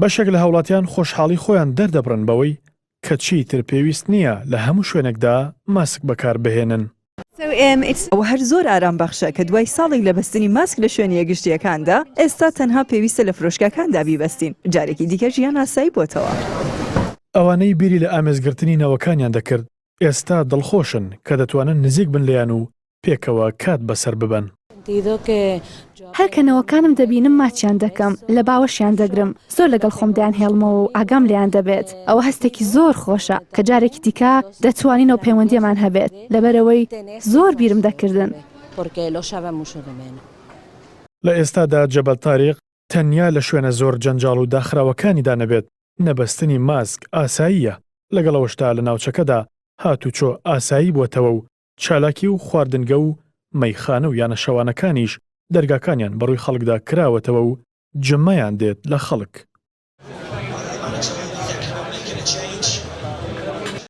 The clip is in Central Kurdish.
بەشێک لە هاوڵاتیان خۆشحاڵی خۆیان دەردەبڕن بەوەی کە چیتر پێویست نییە لە هەموو شوێنێکدا ماسک بەکاربهێنن. ئەوە هەر زۆر ئارام بەخشە کە دوای ساڵێک لە بەستنی ماسک لە شوێنە گشتییەکاندا، ئێستا تەنها پێویستە لە فرۆشگاکاندا بیبەستین. جارێکی دیکە ژیان ئاسایی بۆتەوە. ئەوانەی بیری لە ئامێزگرتنی نەوەکانیان دەکرد، ئێستا دڵخۆشن کە دەتوانن نزیک بن لێیان و پێکەوە کات بەسەر ببەن. هەر کە نەوەکانم دەبینم ماچیان دەکەم، لە باوەشیان دەگرم، زۆر لەگەڵ خۆم دەیانهێڵمەوە و ئاگام لێیان دەبێت. ئەوە هەستێکی زۆر خۆشە کە جارێکی دیکە دەتوانین ئەو پەیوەندییەمان هەبێت، لەبەرئەوەی زۆر بیرم دەکردن. لە ئێستادا جەبەل تاریق تەنیا لە شوێنە زۆر جەنجاڵ و داخراوەکانیدا نەبێت، نەبەستنی ماسک ئاساییە، لەگەڵ ئەوەشدا لە ناوچەکەدا هاتوچۆ ئاسایی بووەتەوە و چالاکی و خواردنگە و مەیخانە و یانە شەوانەکانیش دەرگاکانیان بەڕووی خەڵکدا کراوەتەوە و جمەیان دێت لە خەڵک.